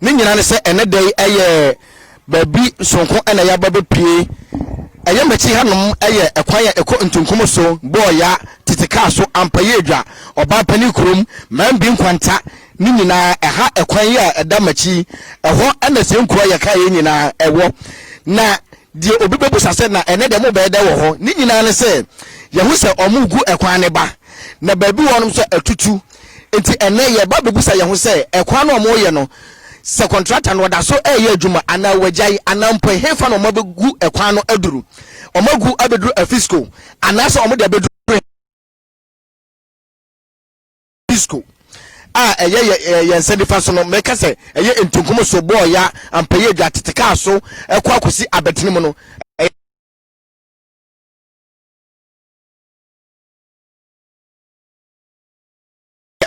Ne nyinaa ne sɛ ɛnɛ da yi ɛyɛ baabi sonko na yɛaba bɛpue. Ɛyɛ m'akyi hanom yɛ ɛkwan a ɛkɔ Ntunkum so, Bɔɔya, Tete Kaa so, Ampayi Adwa, Ɔbaapanin Kurom, Mambi Nkwanta, ne nyinaa ɛha ɛkwan yi a ɛda m'akyi ɛhɔ na sɛ nkuro a yɛkaeɛ nyinaa ɛwɔ. Na deɛ obi bɛbusa sɛ na ɛnɛ deɛ mobɛyɛ dɛ wɔ hɔ, ne nyinaa ne sɛ yɛhu sɛ wɔgu ɛkwan ne ba na baabi wɔnom nso atutu Enti ɛnnɛ yɛreba abɛbisa yɛn ho sɛ, ɛkwan no a wɔreyɛ no, sɛ kɔntrata no ɔda so reyɛ adwuma anaa wɔagyae, anaa mpo ɛhefa na wɔabɛgu ɛkwan no aduru? Wɔagu abɛduru Afisco anaasɛ wɔde abɛduru Hisco? a ɛyɛ yɛn nsa nifa so no, mɛka sɛ ɛyɛ ntunkum so, bɔɔya, ampɛyɛ adwa, tete kaa so, ɛkɔ akɔsi abɛtene mu no.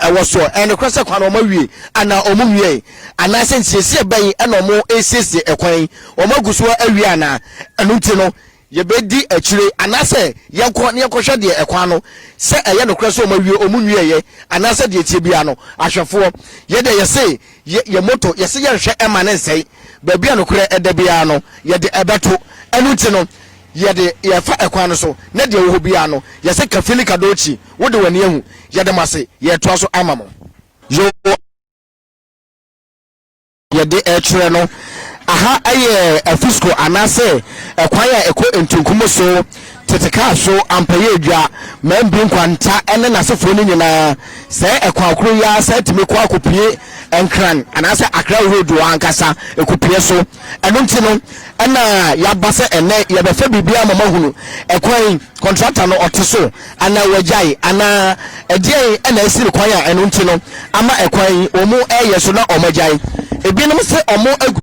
ɛwɔ soɔ. Ɛyɛ nokorɛ sɛ kwan no wɔn awie anaa wɔn nwiɛɛ? Anaasɛ nsiesie bɛn na wɔn resiesie ɛkwan yi? Wɔn agu soɔ awie anaa? Ɛno nti no yɛbɛdi akyire anaasɛ yɛnkɔ na yɛnkɔhwɛ deɛ ɛkwan no sɛ ɛyɛ nokorɛ sɛ wɔn awie wɔn nwiɛɛ anaasɛ deɛ ɛteɛ biara no ahwɛfoɔ yɛ deɛ yɛse yɛ yɛ moto yɛse yɛnhwɛ ɛma no nsɛe baabi a nokorɛ ɛda biara no yɛde ɛbɛto ɛno nti no Yɛde, yɛrefa ɛkwan no so, na deɛ ɛwɔ hɔ biara no, yɛse kafili kadochi, wode w'ani ahu, yɛda mo ase, yɛretoa so ama mo. Yoo. Yɛde rekyerɛ no, aha yɛ Afisco anaasɛ ɛkwan a ɛkɔ Ntunkumu so, tete kaa so, Ampayeedwa, Mambi Nkwanta ne n'asefoɔ no nyinaa, sɛɛ ɛkwan koro yi ara san tumi kɔ akɔpue Nkran anaasɛ Accra Road wɔ ankasa, ɛkɔpue so. Ɛno nti no, Ɛna yaba sɛ ɛnɛ yɛbɛfa biribiara ma moahunu ɛkwan kɔntrata no ɔte so anaa wagyae anaa ɛdeɛn ɛna asi no kwan a ɛno nti no ama ɛkwan yi wɔn ɛyɛ so na wɔn agyae ebinom se wɔn agu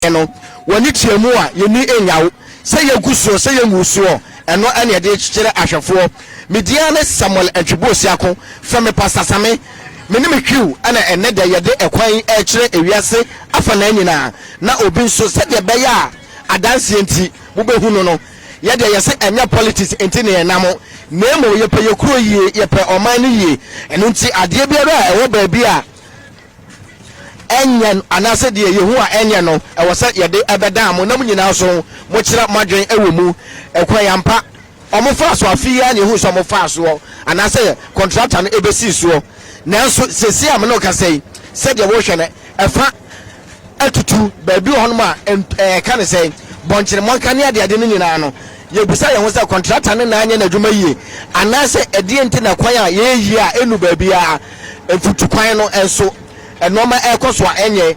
so no wɔne kyia mu a yɛni nyawo sɛ yɛgu soɔ sɛ yɛngu soɔ ɛno ɛne ɛde kyerɛ ahwɛfoɔ mediane samuel ntwebo siako fɛ me pasasame Me ne me hwiw na ɛnnɛ da yi yɛde ɛkwan yi rekyerɛ ewiase afanaa nyinaa, na obi nso sɛdeɛ ɛbɛyɛ a adanseɛ nti mobɛhu no no. Yɛ deɛ yɛse ɛnyɛ politics nti na yɛnam, na mmom yɛpɛ yɛ kuro yie, yɛpɛ ɔman no yie. Ɛno nti adeɛ biara a ɛwɔ baabi a ɛnyɛ anaasɛ deɛ yɛhu a ɛnyɛ no, ɛwɔ sɛ yɛde ɛbɛdaa mo na mo nyinaa nso mokyerɛ moadwene wɔ mu. Ɛkwan ampa. Wɔfaa so afe yi ara na yɛhui sɛ wɔfaa soɔ anaasɛ kɔntrata no bɛsii soɔ. Nanso seesei a me ne wo kasa yi, sɛdeɛ worehwɛ no, ɛfa atutu. Baabi wɔ hɔnom a, ɛka ne sɛ bɔnkyene mmɔnka ne adeade no nyinaa no, yɛbisa yɛn ho sɛ, kɔntrata no na anyɛ n'adwuma yie? Anaasɛ ɛdeɛn nti na kwan a yɛyɛ yie a ɛnnu baabiara, mfutukwan no nso, Nnoɔma ɛɛkɔ so a ɛnyɛ,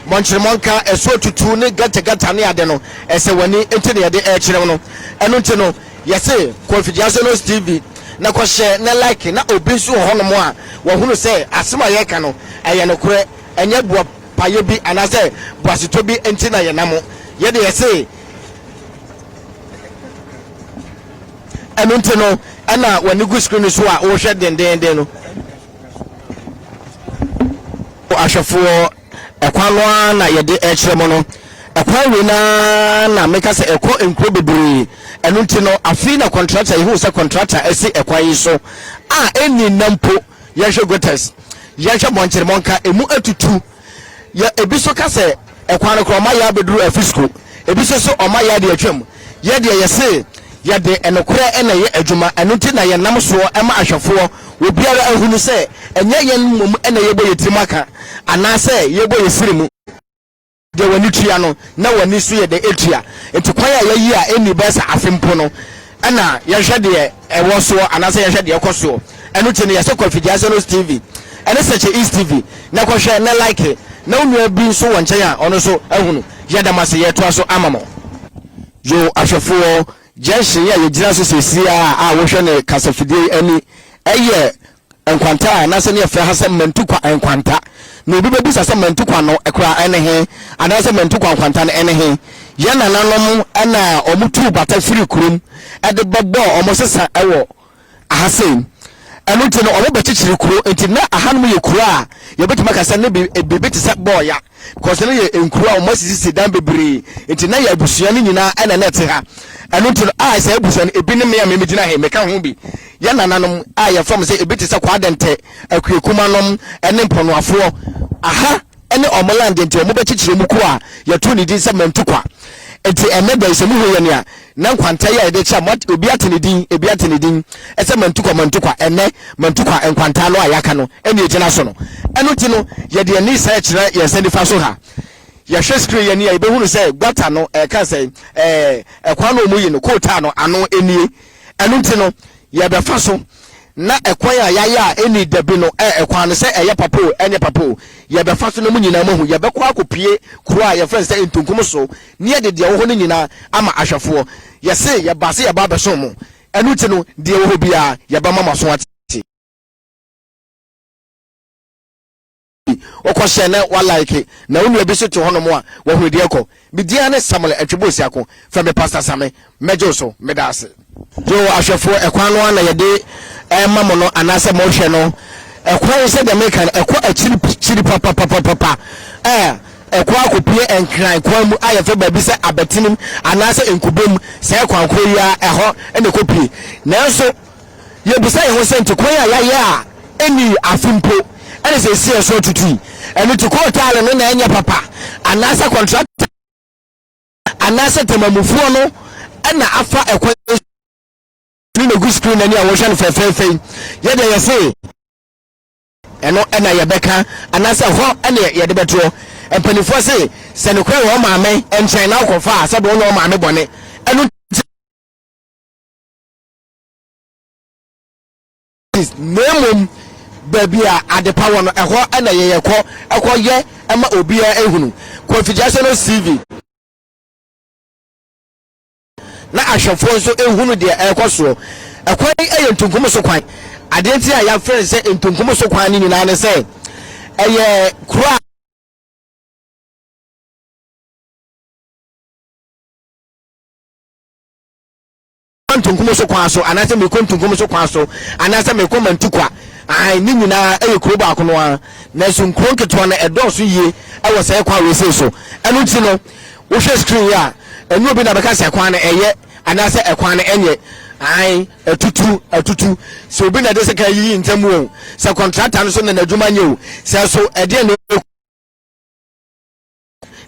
mɔnkyere mɔnka, ɛsoɔ tutu ne gata gata ne ade no ɛsɛ w'ani nti na yɛde ɛɛkyerɛ wo no. Ɛno nti no yɛse kɔ Mfidiasonos TV na kɔ hyɛ na like na obi nso wɔ hɔ nom a wahunu sɛ asem a yɛɛka no ɛyɛ nokorɛ ɛnyɛ boa payɛ bi anaasɛ boasetɔ bi nti na yɛnamo yɛde yɛse ɛno nti no ɛna w'ani gu screen so a wohwɛ dendeenden no. ahwɛfoɔ ɛkwan no ara na yɛde ɛkyerɛ mo no ɛkwan wei no ara na meka sɛ ɛkɔ nkuro bebree ɛno nti no afei na kɔntrata yɛhu sɛ kɔntrata asi ɛkwan yi so a ɛnni nna mpo yɛhwɛ gotas yɛhwɛ mmɔnkyeremɔnka ɛmu atutu Yɛ ebi so ka sɛ ɛkwan no koraa ɔma yɛ abɛduru Afisko, ebi nso se ɔma yɛ ade atwam. Yɛ deɛ yɛ se yɛde nokorɛ na ɛyɛ adwuma, ɛno nti na yɛnam soɔ ma ahwɛfoɔ wɔ biara ahunu sɛ ɛnyɛ yɛn mmom na yɛbɔ yɛ tirim aka anaa sɛ yɛbɔ yɛ siri mu. Deɛ w'ani tua no na w'ani nso yɛ dɛ tua, nti kwan a yɛayi a ɛnni bɛyɛ sɛ afe mpo no na yɛhwɛ deɛ ɛwɔ soɔ anaasɛ yɛhwɛ deɛ ɛkɔ soɔ ɛno ti no yɛsɛ kɔ afidie asɛ no tv ɛne sɛkyɛ east tv na kɔhwɛ na like na wo nua bi nso wɔ nkyɛn a ɔno nso ahunu yɛda mo ase yɛtoa so ama mo yo ahwɛfoɔ junction yi a yɛgyina so seesie a a wohwɛ ne kasafidie ani ɛyɛ Nkwanta a anaasɛ ne yɛfrɛ ha sɛ Mantukwa nkwanta. Na obi bɛbisa sɛ Mantukwa no kora ɛne he? Anaasɛ Mantukwa nkwanta no ɛne he? Yɛ nananom na wɔn tuu bata firi kurom de bɛbɔɔ wɔn sesa wɔ aha sei. Ɛno nti no wɔn bɛkyekyere kuro nti na ahanom yɛ kuro a yɛbɛtumi aka sɛ ne biribi te sɛ bɔɔya. because no yɛ nkuro a wɔn asisisi dan bebree nti na yɛ abusua no nyinaa ɛna na ɛte ha ɛno nti no a sɛ abusua no ebi ne mmea mmea gyina ha meka ho bi yɛ nananom a yɛ fam sɛ ebi te sɛ kɔ adɛntɛ akuakuma nom ɛne mpɔnoafoɔ aha ɛne wɔn land nti wɔn bɛkyekyere mu kuro a yɛto ne din sɛ mantukwa nti ɛnɛ da yi sɛ muhu yɛ nea Nnɛ nkwanta yi a yɛde rekyia mo, obi ate ne din, ebi ate ne din sɛ Mantukwa Mantukwa, ɛnnɛ Mantukwa nkwanta no a yɛaka no na egyina so no. Ɛno nti no, yɛde yɛn ani sɛɛ kyerɛ yɛn nsa nifa so ha. Yɛhwɛ screen yi ani a, yɛbɛhunu sɛ gutter no, ɛka sɛn? Ɛɛ, ɛkwan no a wɔyi no, coal tar no, ano nie. Ɛno nti no, yɛbɛfa so, na ɛkwan a yɛayɛ a ɛnni dabi no, ɛ, ɛkwan no, sɛ ɛyɛ papa o, ɛnyɛ papa o, yɛbɛfa so, na mo nyinaa moahu. Yɛbɛkɔ akɔpue kuro a yɛfrɛ no sɛ Ntunkum so, na yɛde deɛ ɛwɔ hɔ no nyinaa ama ahwɛfoɔ. Yɛse, yɛbaa sɛ yɛba abɛsom mo, ɛno nti no, deɛ ɛwɔ hɔ biara, yɛbɛma mo aso ate. Ɔkɔ hyɛ na wa like na wo nua bi so te hɔ nom a wa hunu deɛ ɛkɔ. Me din ara ne Samuel Atwebo Osiako, frɛ me Pastor Same, mɛgye wo so. Meda ase. Yoo ahwɛfoɔ, ɛkwan no ara na yɛde rema mo no anaasɛ morehwɛ no. Ɛkwan yi sɛdeɛ meka no ɛkɔ akyirikyiri papapapapa a ɛkɔ akɔpue Nkran kwan mu a yɛfrɛ baabi sɛ Abatinim anaasɛ Nkubom. Saa kwan korɔ yi ara ɛhɔ na ɛkɔpue nanso Yebisa yɛn ho sɛ, Nte kwan a yɛayɛ a ennii afe mpo na seesei ɛso atutu yi, ɛno te kootaale no na ɛnyɛ papa, anaasɛ kɔntratani anaasɛ temamufoɔ no na afa ɛkwan yi so ne no agu screen ani a wɔhwɛ no fɛfɛɛfɛ yi? Yɛdeɛ yɛse ɛno na yɛbɛka, anaasɛ hɔ na yɛde bɛtoɔ? Mpanimfoɔ se, Sɛ nokorɛ wɔ wo maame nkyɛn na wokɔfa a, sɛdeɛ ɔnyɛ wo maame bɔne, ɛno nti na mmom baabi a adepa wɔ no ɛhɔ na yɛyɛ kɔ ɛkɔ yɛ ɛma obiara ehunu Kofi Gyase no CV na ahwɛfoɔ nso ehunu deɛ ɛrekɔ soɔ ɛkwan yi yɛ ntunkum so kwan adeɛ nti a yɛafrɛ no sɛ ntunkum so kwan no nyinaa ne sɛ ɛyɛ kuro a Antonkum so kwan so anaasɛ Meko Ntonkum so kwan so anaasɛ Meko Mantikwa, aane, ne nyina ara yɛ kuro baako no ara, nanso nkuro nketewa no ɛdɔɔso yie wɔ saa kwan wei sei so, ɛno nti no wohwɛ screen yi a, ɛnyɛ obi na bɛka sɛ kwan no ɛyɛ anaasɛ ɛkwan no ɛnyɛ, aane, atutu, atutu, sɛ obi na ɛde sekan yiyi ntam o, sɛ kɔntrata no so na n'adwuma nyɛ o, sɛ so ɛdeɛn na ɛkɔ.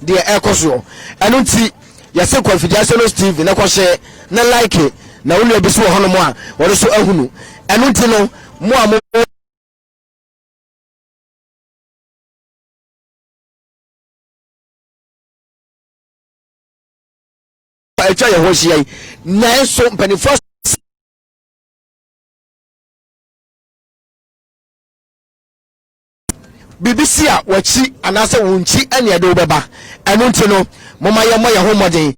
deɛ ɛrekɔ soɔ ɛno nti yɛse Kwamfi Gyasɛlos TV na kɔhyɛ na like na wo nua bi so wɔ hɔnom a ɔno so ahunu ɛno nti no mo a mo atwa yɛn ho ahyia yi nanso mpanimfoɔ biribi si a wɔakyi anaasɛ wonkyi ɛne ɛde wo bɛba. Ɛno nti no, momma yɛmmɔ yɛn ho mmɔden.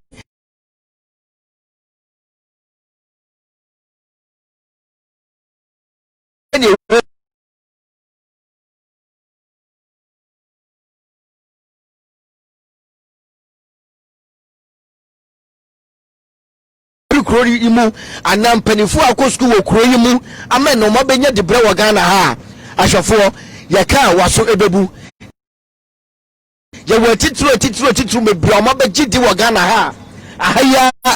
firi kuro no yi mu anaa mpanimfoɔ a wɔkɔ sukuu wɔ kuro yi mu ama na wɔabɛnya dibrɛ wɔ Ghana ha a, ahwɛfoɔ, yɛka a, w'aso bɛbu. Yɛwɔ atitiriw atitiriw atitiriw bebree a wɔabɛgye di wɔ Ghana ha a, aha yi ara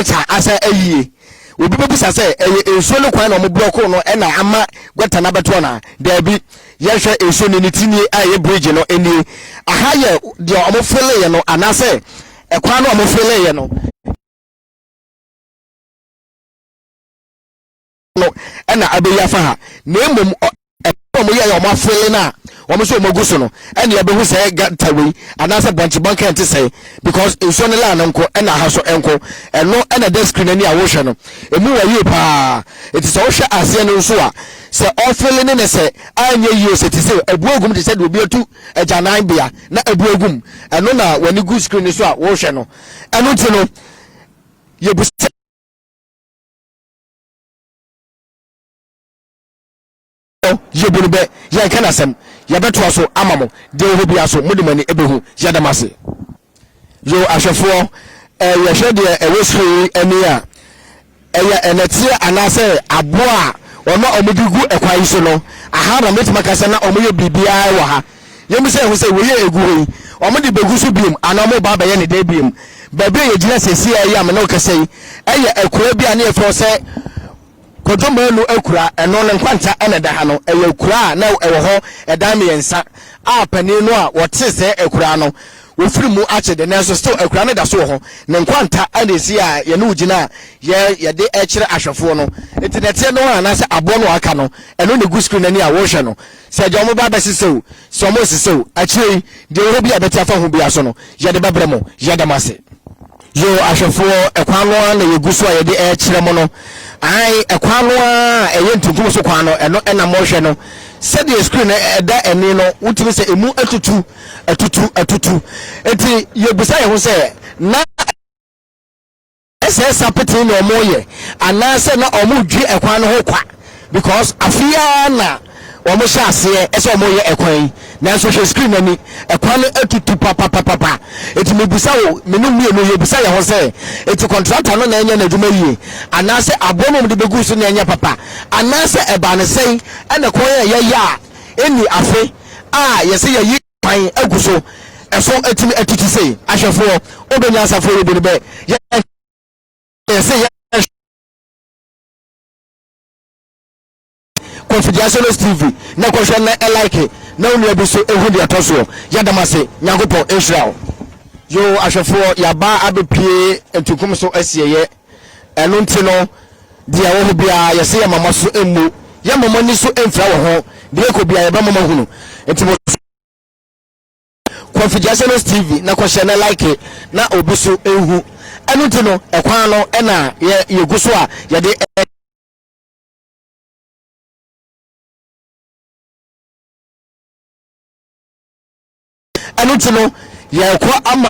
Gɔta asa ayie. Obi bɛbisa sɛ, ɛyɛ nsuo no kwan na wɔn blɔkoo no na ama gɔta no abɛto anaa? Daabi. Yɛnhwɛ nsuo no ne ti nie a ɛyɛ bridge no nie. Aha yɛ deɛ wɔn feleeɛ no anaasɛ ɛkwan no a wɔn feleeɛ no. no na abeyi afa ha na mmom ɛbɛn wɔn yɛ yɛ wɔn afele no a wɔn nso wɔn agu so no ɛna ɛbɛhu sɛ gata wei anaasɛ bɔnkye bɔnkye ɛnte sɛ because nsuo no laa no nko ɛna aha so nko ɛno ɛna ɛda screen ani a wɔhwɛ no emu wɔ yie paa eti sɛ wɔhwɛ aseɛ no nso a sɛ ɔfele ne ne sɛ anyɛ yie sɛ te sɛ ebu egum te sɛ deɛ obi atu agyanan bea na ebu egum ɛno na wɔn ani gu screen so a wɔhwɛ no ɛno ti no yɛ bu sɛ. yɛbu no bɛ yɛnka no asɛm yɛbɛtoa so ama mo deɛ wɔ hɔ bia so mode mo ani bɛhu yɛda mo ase yo ahwɛfoɔ eh, yɛhwɛ deɛ ɛwɔ soro yi ani a ɛyɛ ɛnɛteɛ anaasɛ aboɔ a wɔma wɔn de gu ɛkwan yi so no aha na mɛtumi aka sɛ na wɔyɛ biribiara wɔ ha Yɛmmisa ho sɛ, Wei a ɛgu hɔ yi, wɔde bɛgu so bio anaa wɔreba abɛyɛ ne dɛn bio? Baabi a yɛgyina seesei a ɛyɛ a me ne wo kasa yi yɛ akuraa bi a na yɛfrɛ sɛ Kwadwo Manu akuraa. Ɛno no Nkwanta na ɛda ha no. Ɛyɛ akuraa a na ɛwɔ hɔ ɛdan mmiɛnsa a panin no a wɔte sɛ akuraa no wɔfiri mu akye de nanso still akuraa no da so wɔ hɔ. Ne Nkwanta na ɛsi a yɛne wo gyina a yɛ yɛde ɛkyerɛ ahwɛfoɔ no. Nti nɛteɛ no a anaasɛ aboɔ no a aka no ɛno na ɛgu screen no ani a worehwɛ no. Sɛ deɛ wɔba abɛsesɛ o, sɛ wɔnsesɛ o, akyire yi, deɛ ɛwɔ hɔ biara a ɛbɛte afa ho biara so no, yɛde bɛbrɛ mo. Yɛda mo ase. Yoo ahwɛfoɔ, ɛkwan no ara na yɛgu so a yɛde rekyerɛ mo no. Aane, ɛkwan no ara a ɛyɛ ntenkum so kwan no, ɛno na morehwɛ no. Sɛdeɛ screen no ɛda ani no, wotumi sɛ ɛmu atutu, atutu, atutu. Enti yɛbisa yɛn ho sɛ, na. sɛ ɛsa petee na ɔmo yɛ anaasɛ na ɔmo dwi ɛkwan no ho kwa because afe ara na ɔmo hyɛ aseɛ ɛsɛ ɔmo yɛ ɛkwan yi nanso hwɛ screen ani ɛkwan no atutu papapapapa eti mi busa wo mene mmienu yɛ busa yɛn ho sɛ eti kɔntrata no na ɛnyɛ n'adwuma yie anaasɛ aboɔ no de bɛgu so na ɛnyɛ papa anaasɛ ɛbaa ne sɛn ɛna kɔn yɛ yɛyɛ a ɛni afe a yɛsɛ yɛyi kwan agu so ɛso atumi atiti sei. Ahwɛfoɔ, obe nyansafoɔ yɛ bu no bɛ yɛ yɛse yɛ Confidiaciones TV na kɔhwɛ na ɛlike na wo nua bi so ehu deɛ ɛtɔ soɔ. Yɛdam ase, Nyankopɔn nhyira wo. Yoo ahwɛfoɔ yɛaba abɛpue ntunkum so asieyɛ. Ɛno nti no, deɛ ɛwɔ hɔ biara, yɛse yɛmma mo aso mmu, yɛmma mo ani so mfira wɔ ho, deɛ ɛrekɔ biara yɛbɛma moahunu. Nti mo so Kwafi Gyasɛnɛs TV na kɔhyɛ na like na obi so nhu. Ɛno nti no, ɛkwan no na yɛ yɛgu so a yɛde ɛno nti no yɛrekɔ ama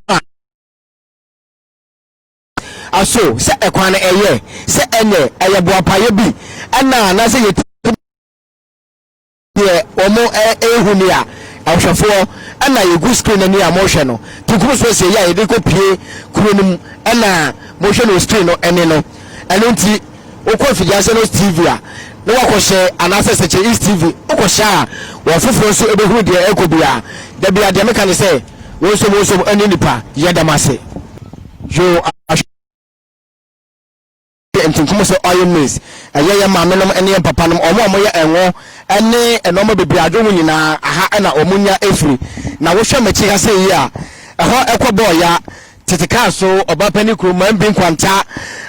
Aso sɛ ɛkwan no ɛyɛ sɛ ɛnɛ ɛyɛ boapayɛ bi ɛna anaasɛ yɛtie deɛ wɔn ɛrehu ni a ɛhwɛfoɔ ɛna yɛgu screen ani a mohwɛ no tunkum so asie yɛ a yɛde kɔ pie kuro no mu ɛna mohwɛ no screen no ɛne no ɛno nti wokɔ afidiaseɛ no tv a na wakɔhyɛ anaasɛ sɛkyɛ east tv wokɔhyɛ a wɔn foforɔ nso ɛbɛhunu deɛ ɛkɔ bi a da bi adeɛ meka ne sɛ wɔnsom wɔnsom ɛne nipa yɛ dɛm ase Yoash yɛ ntunkum sɛ ɔyɛ maize. Ɛyɛ yɛn maamenom ne yɛn papanom, wɔn a wɔyɛ ngo ne nneɛma bebree a adwo ho nyinaa, ha na wɔnya firi. Na wohwɛ m'akyi ha sɛ yi a, ɛhɔ kɔ bɔɔ ya, tete kaa so, ɔbapanin kuro, man bi nkwanta,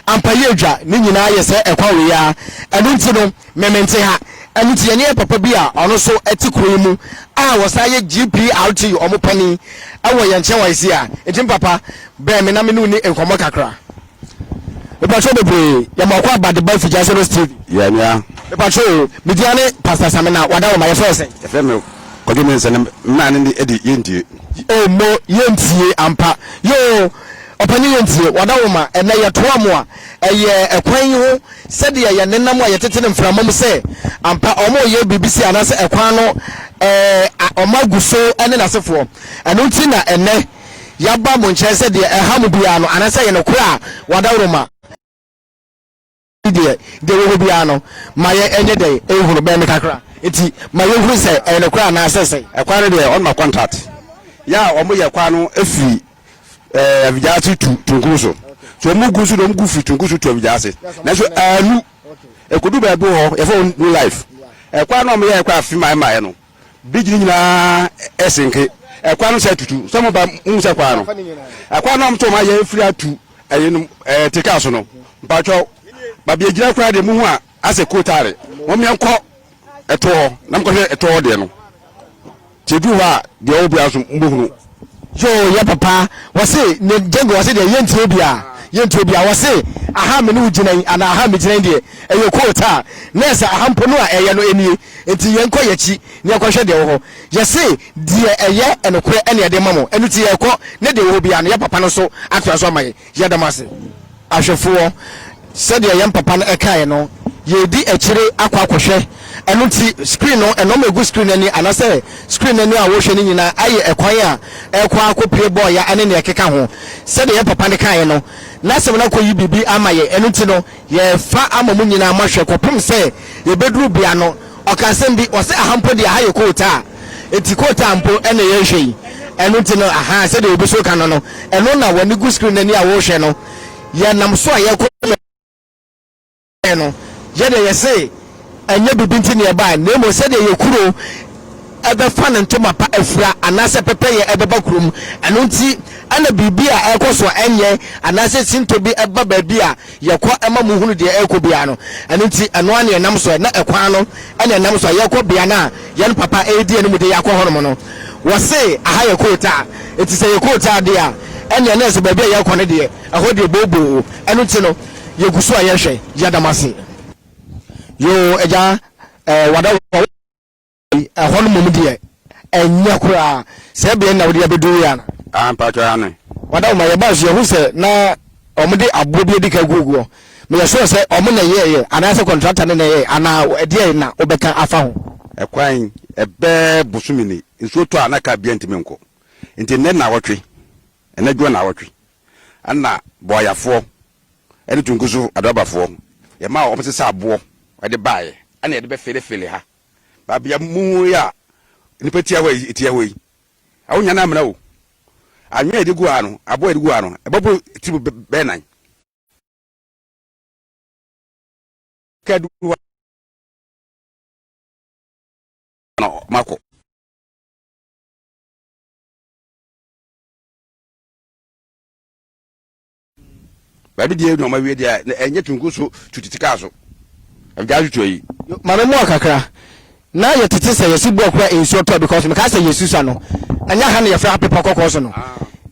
ampa yɛ dwa, ne nyinaa yɛ sɛ ɛkwan wei ara. Ɛno nti no, Me mente ha. Ɛno nti yɛne yɛn papa bi a ɔno nso te kuro yi mu a ɔsan yɛ GPRT wɔn panin wɔ yɛn nkyɛn wɔ ase a, nti me papa bɛn me na me ne wo ni nkɔmmɔ kakra. Me patrɔ bebree, yɛ mɔkɔ aba de ba Figya Sɛbɛs TV. Yɛ nua. Me patrɔ o, me din ane Pastor Samina, wada wo ma yɛfrɛ wo sɛn? Yɛfrɛ me Kwadwo Mensah na me maame ne de Yɛ Ntie. Oh mo Yɛ Ntie ampa. Yoo, Ɔpanin Yɛ Ntie, wada wo ma ɛnɛ yɛtoa mo a, ɛyɛ ɛkwan yi ho Sɛdeɛ yɛn nenam a yɛtete no mframa mu sɛ ampa wɔn reyɛ biribi sei anaasɛ ɛkwan no ɛɛ wɔn agu so ne n'asefoɔ. Ɛno nti na ɛnnɛ yɛaba mo nkyɛn sɛ deɛ ɛha mo biara no anaasɛ ɛyɛ nokorɛ a wɔadaworo ma. Deɛ deɛ ɛwɔ hɔ biara no ma yɛn nyɛ dɛn nhunu bɛn no kakra nti ma yɛnhunu sɛ ɛyɛ nokorɛ anaasɛ sɛn. Ɛkwan no deɛ wɔn ma kɔntaat yɛ a wɔn yɛ kwan no firi. ɛɛ eh, avigyase tu tunkun so so ɔmo gu nso na ɔmo gu firi tunkun so tu avigyase nanso ɛnu ɛkodu baabi wɔ hɔ yɛfɛ wɔn new life ɛkwan na ɔmo yɛ ɛkwan afi maa ɛmaa yɛ no bridge ne nyinaa ɛsenke ɛkwan no sɛ tutu sɛ ɔmo ba ɔmo sɛ kwan no ɛkwan na ɔmo sɛ ɔmo ayɛ efiri atu ɛyɛ no ɛɛ teka so no mpatsɔ baabi egyina kura de mu ho a asɛ kuo taare wɔn yɛn kɔ ɛtoɔ hɔ na mo kɔhwɛ ɛtoɔ hɔ deɛ no tie duru hɔ a deɛ ɔwɔ biara so mo bɛ hunu. Yoo yɛ papa wɔse ne Django wɔse deɛ yɛntie obiaa yɛntie obiaa wɔse aha me ne wo gyina yi anaa aha me gyina yi deɛ ɛyɛ kuo taa nɛɛsɛ aha mpo no a ɛyɛ no ɛnie nti yɛn kɔ yɛkyi ne yɛn kɔhwɛ deɛ ɛwɔ hɔ yɛse deɛ ɛyɛ ɛnokorɛ ɛne yɛde ma mo ɛno nti yɛkɔ ne deɛ ɛwɔ hɔ biaa no yɛ papa no nso atoa so ama yɛn yɛda mo ase. Ahwɛfoɔ, sɛdeɛ yɛn papa no kaeɛ no, yɛredi akyire akɔ akɔhwɛ. Ɛno nti, screen no, nnoɔma a ɛgu screen no ani anaasɛ screen no ani a wɔrehwɛ no nyinaa ayɛ ɛkwan a ɛrekɔ akɔpue bɔɔya ne nea ɛkeka ho. Sɛdeɛ yɛn papa no kaeɛ no, n'asɛm no akɔyi biribi ama yɛn. Ɛno nti no, yɛrefa ama mo nyinaa moahwɛ kɔpem sɛ yɛbɛduru bea no. Ɔka asɛm bi, ɔse aha mpo deɛ aha yɛ coal tar, enti coal tar mpo na yɛrehwɛ yi, ɛno nti no ahaa sɛdeɛ obi so reka no no, ɛno na w'ani gu screen no ani a worehwɛ no, yɛnam so a yɛrekɔ yɛn kwan no, yɛdeɛ yɛse ɛnyɛ biribi nti na yɛbaeɛ, na mmom sɛdeɛ yɛn kuro bɛfa ne ntoma pa afira anaasɛ pɛpɛyɛ ɛbɛba kurom, ɛno nti na biribi a ɛrekɔ so a ɛnyɛ anaasɛ sintɔ bi ba baabi a. Yɛ kɔ ma mo hunu deɛ ɛrekɔ biara no, ɛno nti ɛno ara na yɛnam soɛ, na ɛkwan no na yɛnam so a yɛrekɔ bea no a yɛn papa redi anim de yɛn akɔ hɔ nom no. Wɔse aha yɛ kootaa, nti sɛ ɛyɛ kootaa deɛ a, ɛnneɛ na ɛsɛ baabi a yɛrekɔ no deɛ ɛhɔ deɛ booboo, ɛno nti no yɛgu so a yɛrehwɛ. Yɛda mo ase. Yoo agya eh wada wo. Ɛhɔ no mmom deɛ, ɛnyɛ koraa. Saa beae no na wode abɛduru yi anaa? Aah, mpakyɛw, aane. Madam, ma yɛbae nso yɛhu sɛ na wɔde aboɔ bi adi kan aguagu hɔ. Meyɛ sure sɛ wɔn na ɛyɛeɛ anaasɛ kɔntrata no na ɛyɛeɛ anaa ɛdeɛn na wobɛka afa ho? Ɛkwan bɛɛ bosome ni, nsuo tɔ a na kaa biara ntumi nkɔ. Nti nnɛ nnawɔtwe, nnɛ dwoɔ nnawɔtwe, ɛna Bɔɔyafoɔ ne Tunkuso Adoabafoɔ, yɛmaa wɔn sesa aboɔ de baeɛ, ɛna yɛde bɛfeelefeele ha. babea mu yi a nnipa tia hɔ yi tia hɔ yi ɛho nya no amena o anwea a yɛde gu ha no aboa a yɛde gu ha no ɛbɛboro tiri mu bɛyɛ nan kadu hɔ na makɔ baabi deɛ na ɔmawie deɛ na ɛnyɛ tunku so tu tete kaa so ɛgyaa so tu ayi. maame mu akakra na yɛ tete sɛ yɛsi bɔɔ kura nsuo tɔ because mekaa sɛ yɛ susa no ɛnyɛ ha na yɛfrɛ ha pepɔ kɔkɔɔ so no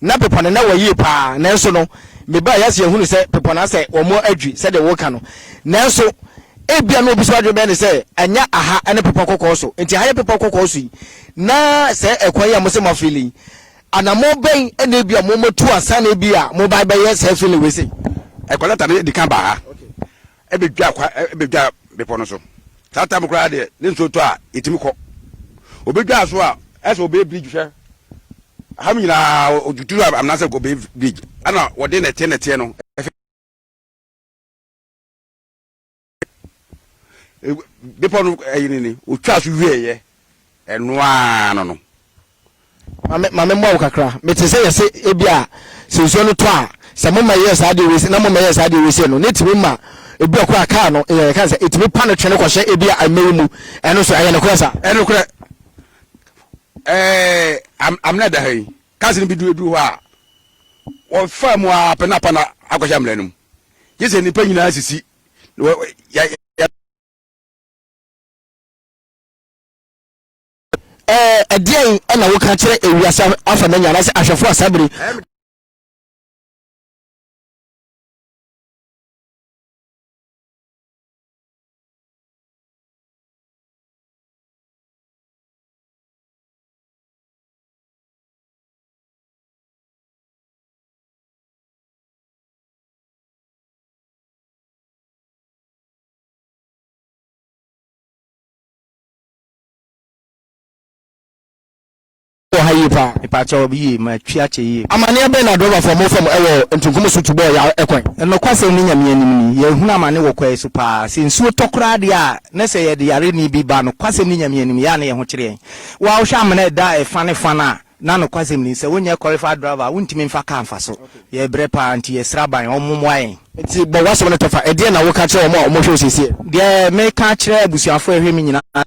na pepɔ no na wɔ yie paa nanso no mebaa yɛ ase yɛhunu sɛ pepɔ no asɛ wɔn adwi sɛdeɛ wɔka no nanso ebia na obi so adwene bɛyɛ ne sɛ ɛnyɛ aha ne pepɔ kɔkɔɔ so nti aha yɛ pepɔ kɔkɔɔ so yi na sɛ ɛkwan yi a mo sɛ mo afili Anammɔn bɛn na ebia mommatu ansa na ebia mobae bɛyɛ saa fi ne wei sei? Ɛkwan no tare di kan ba ha bedwa kwa bedwa bepɔ no so. Saa tam koraa deɛ ne nsuo tɔ a etumi kɔ. Obedwa so a ɛsɛ obey bridge hwɛ. Aha nyinaa otutu amena sɛ obey bridge ɛna wɔde nɛteɛ nɛteɛ no ɛfɛ. bepɔ no ɛyi ne ne otwa so wie yɛ ɛnoaa no no. maame maame mu awo kakra mete sɛ yɛsɛ ebi a sɛ nsuo no tɔ a sɛ mo ma yɛ saa deɛ wei na mo ma yɛ saa deɛ wei sɛ no ne tumi ma ebi a kura kaa no yɛ kan sɛ etumi pa no twene kɔhyɛ ebi a mmɛyi mu ɛno so ɛyɛ ne korɛ sa. ɛno korɛ ɛɛ am amina da ha yi kaasi no bi du edu hɔ a wɔfa mu a pɛ na pa na akɔhyɛ amina no mu yɛ sɛ nipa nyinaa sisi ɛdeɛn na woka kyerɛ ewiase afa no nya anaasɛ ahwɛfoɔ a saa bere wɔ ha yie paa. Mepaakyɛ wɔ yie ma twi akyɛ yie. Amaneɛ bɛn na drɔbafo ɔmo fam ɛwɔ ntunkum so tubɔɔ ya ɛkwan. Nokwasɛm ne Nyame anim ni yɛhunu amane wɔ kwae so paa sɛ nsuo tɔ koraa deɛ a na sɛ yɛde yareni bi ba nokwasɛm ne Nyame anim yɛ a na yɛho kyere yɛn wo a wohwɛ amena ɛda ɛfa ne fa no a Na nokwasɛm ni, sɛ wonyɛ qualified driver a, wontumi mfa car mfa so. Yɛrebrɛ paa, nti yɛsrɛ aban wɔn mmoa yɛn. Nti bɔ w'asɛm no tɔfa, ɛdeɛn na woka kyerɛ wɔn a wɔhwɛ wo seesei? Deɛ meka akyerɛ abusuafoɔ a ɛhwɛ me nyinaa.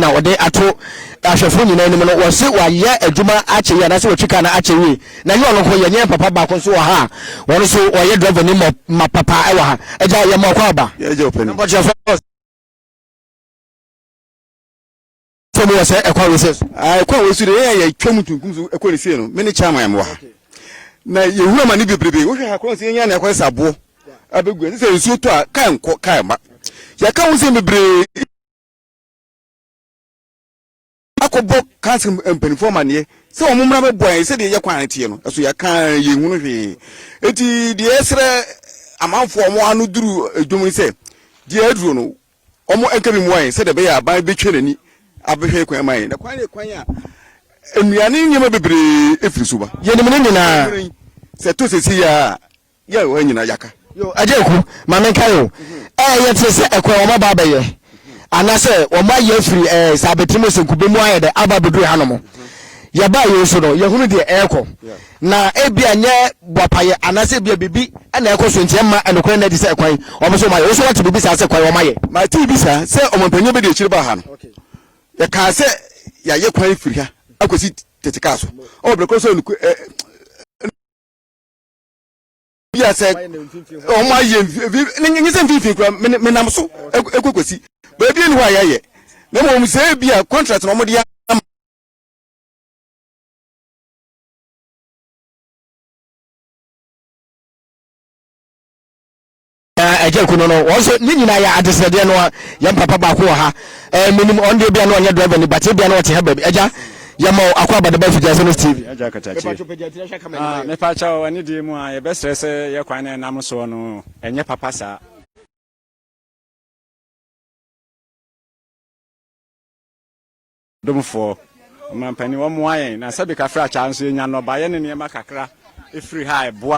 na wɔde ato ahwɛfo nyinaa anim no wɔse wɔayɛ adwuma akyɛ yie anaasɛ wɔtwi kaa no akyɛ yie na ɛnyɛ ɔno nko yɛ nyɛ papa baako nso wɔ ha a wɔn nso wɔyɛ driver ni ma ma papa ɛwɔ ha agya yɛ ma ɔkɔ aba yɛgye ɔpɛ ni nkɔkyerɛfo sɛ mu wɔ sɛ ɛkɔ wesɛ so ɛkɔ a wɔsu de yɛ yɛ twam tuntum so ɛkɔ ne sie no me ne chairman yɛ wɔ ha na yɛhunu ama ne bebrebe wohwɛ ha korɔ sɛ yɛnya ne akɔ sɛ aboɔ abɛgu ɛsɛ sɛ nsuo tɔ a kaa nkɔ kaa ma yɛka wo sɛ bebree akɔbɔ council mpanimfoɔ amaneɛ sɛ wɔn mmra bɛboa yɛn sɛdeɛ yɛ kwan teɛ no ɛso yɛka yɛn hunu hwee eti deɛ ɛsrɛ amanfoɔ wɔn ano duru edwom no sɛ deɛ aduro no wɔn nka bi mua yɛn sɛdeɛ ɛbɛyɛ aban bɛtwa n'ani abɛhwɛ kwan ma yɛn na kwan yɛ kwan a nnuane nneɛma bebree efiri so ba yɛn nim ne nyinaa sɛ to sisi yɛ a Yɛ o ɛnyina yaka. Yo Agyeku ma menkae o ɛɛ yɛ te sɛ ɛkwan wɔn aba abɛyɛ ana sɛ wɔn ayi afiri ɛɛ sɛ abɛtiri mu sɛnkube mu ayɛ dɛ aba abɛduru ha nom yɛ baa yɛ nso no yɛ hunu deɛ ɛɛkɔ na ebia nyɛ boapayɛ ana sɛ ebia biribi ɛna ɛɛkɔ so nti ɛmma ɛnokorɛ nna adi sɛ ɛkwan wɔn nso wɔn ayɛ wo nso wate biribi saa sɛ kwan wɔn ayɛ. Matee bi saa sɛ ɔmanpanyin bɛdi akyiri baa ha no yɛ kaa sɛ yɛ ayɛ kwan firi ha akɔsi tete kaa so ɔwɔ brɛ korɔ so ɛɛ. bia sɛ wɔn ayɛ nye sɛ mfimfini kura menam so ekokosi baabi ni hɔ a yɛayɛ na mmom sɛ ebi a contract na wɔn de ama. Agya Kuno no wɔn nso ne nyinaa yɛ adesrɛdeɛ no a yɛn papa baako wɔ ha ɛɛ menim ɔno deɛ bia no ɔnyɛ driver ni but bia no ɔte ha baabi agya yɛma wo akɔ abadaba firi gyase no TV. Agya Katakyire mepa kyɛw ɛne deɛ mu a yɛbɛsrɛ sɛ yɛ kwan na ɛnam soɔ no ɛnyɛ papa saa. Domfoɔ ɔmampanin wɔn mmoa yɛn na sɛbi kafra kyaa nso yɛnya nnɔbaeɛ ne nneɛma kakra ɛfiri ha ɛboa.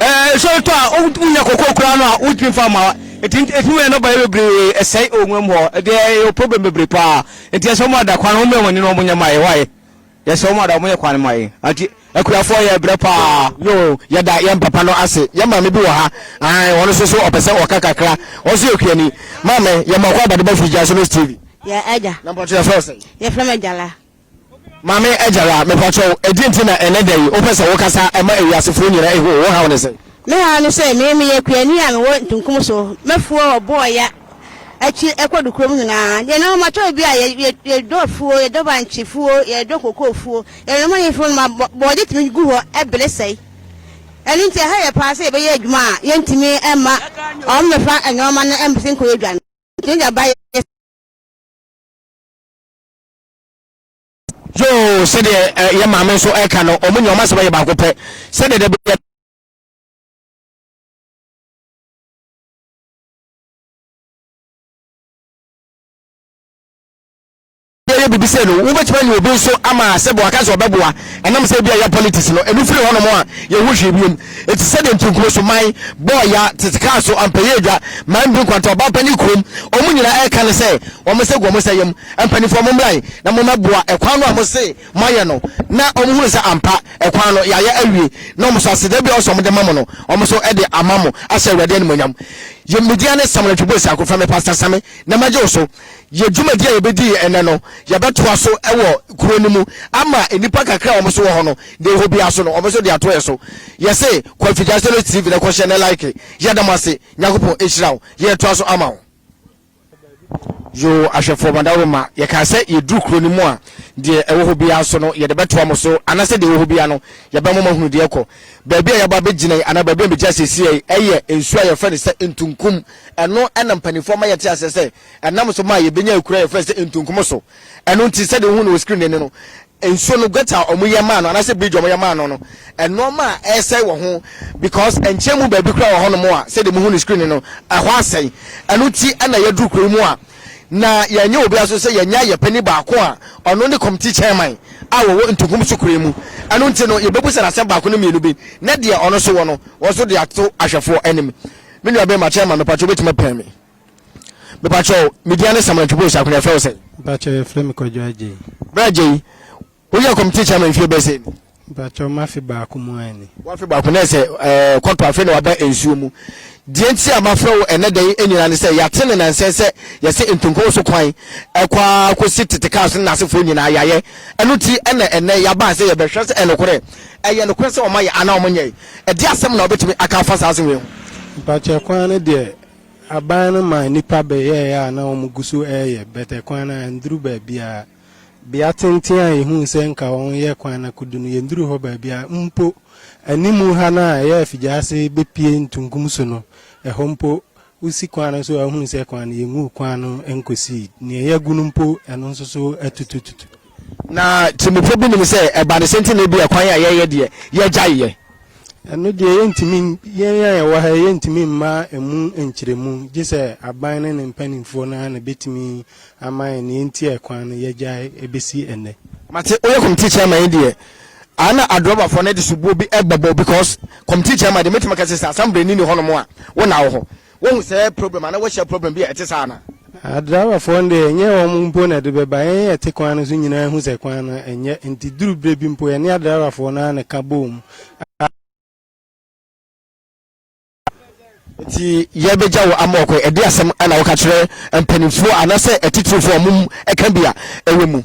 ɛɛ nsɔre tɔ a wonya kɔkɔɔ koraa no a wontumi fa ma nti ɛtumi wɔ yɛ nɔba yɛ bebree ɛsɛe ɔnwa mu hɔ ɛdeɛ ɛyɛ problem bebree paa nti ɛsɛ wɔn ada kwan wɔn mmerɛ wɔn ne wɔn nyɛ ma yɛ wae yɛsɛ wɔn ada wɔn yɛ kwan ma yɛ nti akuafoɔ yɛ brɛ paa. yoo yɛda yɛn papa no ase yɛn maame bi wɔ ha ahan wɔn nso so ɔpɛ sɛ ɔka kakra wɔn nso yɛ kuani maame yɛn mɔkɔ abadeba firi gya so no tv. yɛ ɛgya. na mpɔtɔ yɛ fɛ ɔsɛ. yɛ fɛ mɛ gyala. Maame Agyara, mepakyɛw, ɛdeɛn nti na ɛnnɛ da yi wopɛ sɛ wokasa ma ewiasefoɔ nyinaa ehu wo haw ne sɛn? Me haw ne sɛ me meyɛ kuani a mewɔ ntunkum so, mɛfuo ɔbo ɔya akyi ɛkɔ do kurom nyinaa, deɛ na wɔatɔ obi a yɛdɔ afuo, yɛdɔ bankye fuo, yɛdɔ cocoa fuo, yɛnom anyi fuo nom a bɔɔde tumi gu hɔ bere sɛe, ɛno nti ɛha yɛ paa sɛ yɛbɛyɛ adwuma a yɛntumi mma wɔn mmɛfa nnoɔma no mmɛsi nkɔyɛ dwa no, yɛtumi de aba yɛ. yoo sɛdeɛ eh, yɛ maame nso ɛka no ɔmo nyɛ ɔmo asɛm yɛ baako pɛ sɛdeɛ dɛ bɛyɛ yɛ biribi sɛ no wobɛtumi anya obi nso ama sɛ boa ka sɛ ɔbɛboa ɛnam sɛ bi a yɛ politics no ɛno firi hɔnom a yɛho hwee biom ɛti sɛdeɛ ntonkuo so man bɔɔya tete kaa so ampɛyɛ adwa man bi nkwanta ɔba pa ne kurom ɔmo nyina ɛka no sɛ ɔmo sɛ gu ɔmo sɛ yam Mpaninfoɔ mommra he na mommɛboa kwan no a mose moayɛ no na ɔmo hunu sɛ ampa kwan no yɛayɛ awie na ɔmo so aseda biara ɔse ɔmo de ma mo no ɔmo nso de ama mo ahyɛ Awurade animuonyam. Yɛ me din ane Samuel Atwibo Asiako frɛ me Pastor Same na mɛgye wo so. Yɛ dwumadie a yɛbɛdii ɛnnɛ no yɛbɛtoa so wɔ kuro no mu ama nnipa kakra a ɔmo so wɔ hɔ no de ɛhɔ biara so no ɔmo nso de ato yɛ so. Yɛse kɔ Afigya Solo TV na kɔ hyɛ ne like. Yɛda mo ase. Nyankopɔn nhyira wo. Yɛɛtoa so ama wo. Yoo ahwɛfoɔ mo adaworo mma, yɛkaa sɛ yɛduru kuro no mu a, deɛ ɛwɔ hɔ biara so no yɛde bɛtoa mo so, anaasɛ deɛ ɛwɔ hɔ biara no yɛbɛma mo ahunu deɛ ɛkɔ. Baabi a yɛabɔ abɛgyina yi, anaa baabi a megyina seesei yi, ɛyɛ nsuo a yɛfrɛ no sɛ Ntunkum. Ɛno na mpanimfoɔ ama yɛte aseɛ sɛ ɛnam so ma yɛbɛnya akuraa a yɛfrɛ no sɛ Ntunkum so. Ɛno nti, sɛdeɛ wohu no wɔ screen no ani no, nsuo no, gutter a wɔyɛ maa no anaasɛ bridge a wɔyɛ maa no no, nnoɔma a ɛresɛe wɔ ho because nkyɛn mu baabi koraa wɔ hɔnom a sɛdeɛ mohu no screen no no, ɛhɔ asɛe. Ɛno nti na yɛaduru kuro yi mu a na yɛanyɛ obiara so sɛ yɛanya yɛn panin baako a ɔno ne committee chairman a wɔwɔ Ntunkum so kuro yi mu. Ɛno nti no, yɛbɛbisa no asɛm baako ne mmienu bi na deɛ ɔno nso wɔ no, wɔn nso de ato ahwɛfoɔ anim. Me nuabarima chairman, mepatwa wobɛtumi apɛ me? Mepakyɛ wo, me din ane Samuel Twoboi Saako, na yɛfrɛ wo sɛn? Mepakyɛ wo, yɛfrɛ me Kwadwo Agyei. Bra Agyei, wo yɛ kɔmite chairman mfie bɛɛ sɛn ni? Mepakyɛ wo, m'afe baako mu ara ni. W'afe baako, na ɛsɛ ɛɛ kɔtɔ afe na waba nsuo mu. Deɛ nti a mafrɛ wo ɛnɛ da yi nyinaa ne sɛ yɛate ne nansɛn sɛ yɛse Ntonkongo so kwan ɛkɔ ara kɔsi Tete Cars no n'asefoɔ nyinaa yɛayɛ. Ɛno nti na ɛnɛ yɛaba sɛ yɛbɛhwɛ sɛ ɛnokorɛ, ɛyɛ nokorɛ sɛ wɔayɛ anaa wɔnyɛe. Ɛdeɛ asɛm na wobɛtumi aka afa saa asɛm wei ho? Mepakyɛ kwan no deɛ Aban no maa nnipa bɛyɛɛ a na wɔgu so reyɛ bɛtɛ kwan no a ɛnduru baabiara. Bea tenten a yehuu sɛ nka wɔyɛ kwan no akodu no, yenduruu hɔ baabiara. Mpo anim ha no a ɛyɛ afigyase bepue ntunkum so no, ɛhɔ mpo, wusi kwan no so a wuhu sɛ kwan no, yenguu kwan no nkosii. Nea yɛagu no mpo, ɛno nso so atutututu. Na tirimupɔ bi nim sɛ ɛba ne sɛ nti na ebia kwan a yɛyɛ deɛ yɛgyae yɛ. Ɛno deɛ yɛntumi, yɛn a yɛwɔ ha yi, yɛntumi mma ɛmu nkyerɛmu, gye sɛ aban ne ne mpanimfoɔ no ara na ɛbɛtumi ama yɛn deɛ nti a ɛkwan no yɛgyae ɛbɛsi ɛnnɛ. Mate woyɛ committee chairman yi deɛ a na adrɔbafoɔ no de sobuo bi ɛbɛbɔ because committee chairman deɛ mɛtumi aka sɛ sɛ assembleni ni hɔnom a wo na wo hɔ Woahu saa problem anaa woahyia problem bi a ɛte saa anaa? Ah, driverfoɔ no deɛ ɛnyɛ wɔn mpo na ɛde bɛba, yɛn a yɛte kwan no so nyinaa hu sɛ kwan no ɛnyɛ, nti duru berɛ bi mpo yɛne adriverfoɔ no ara na ɛka bɔɔ mu a. Nti yɛbɛgya wo ama ɔkɔ, ɛde asɛm na woka kyerɛ mpanimfoɔ anaasɛ atitirifoɔ a wɔn ɛka bi a ɛwɔ mu.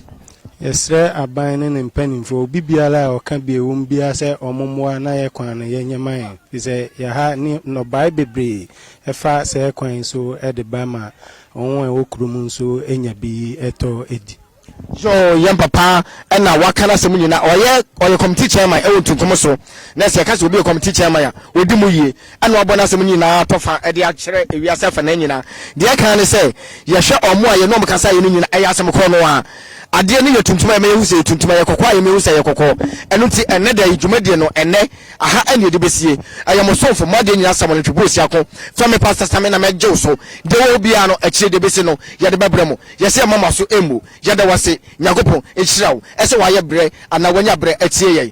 Yɛsrɛ aban ne ne mpaninfoɔ, obi biara a ɔka bi a ɛwom biara sɛ wɔn mmoa na yɛ kwan no yɛ nyɛ ma yɛn, firi sɛ yɛ ha ne nnɔbae bebree ɛfa sɛɛ kwan yi so de ba ma wɔn a ɛwɔ kuro mu nso nya bi tɔ di. Yoo yɛn papa na waka nasɛm nyina ɔyɛ ɔyɛ committee chairman ɛwɔ ntunkum so nɛ sɛ yɛka sɛ obi yɛ committee chairman a ɔdi mu yie na wɔabɔ n'asɛm no nyinaa atɔfa de akyerɛ wiase afanan nyinaa. Deɛ ɛka ne sɛ, yɛhwɛ wɔn a yɛne wɔn kasaeɛ no nyinaa, ɛyɛ asɛm korɔ no ara. Adeɛ no yɛ tuntum a, ɛma yɛhu sɛ ɛyɛ tuntum, ɛyɛ kɔkɔɔ a, ɛma yɛhu sɛ ɛyɛ kɔkɔɔ. Ɛno nti, ɛnnɛ da yi, dwumadie no, ɛnnɛ, aha na yɛde bɛsie. Ɛyɛ mo somfo, mo adeɛ nyinaa Samuel Ntwebuosiako. Frɛ me Pastor Same na mɛgye wo so. Deɛ wowɔ biara no, akyire deɛ ɛbɛsi no, yɛde bɛbrɛ mo. Yɛsɛ yɛmma mo aso mmu. Yɛda wo ase. Nyankopɔn nhyira wo. Ɛsɛ wɔayɛ berɛ anaa wɔanya berɛ atie yɛn.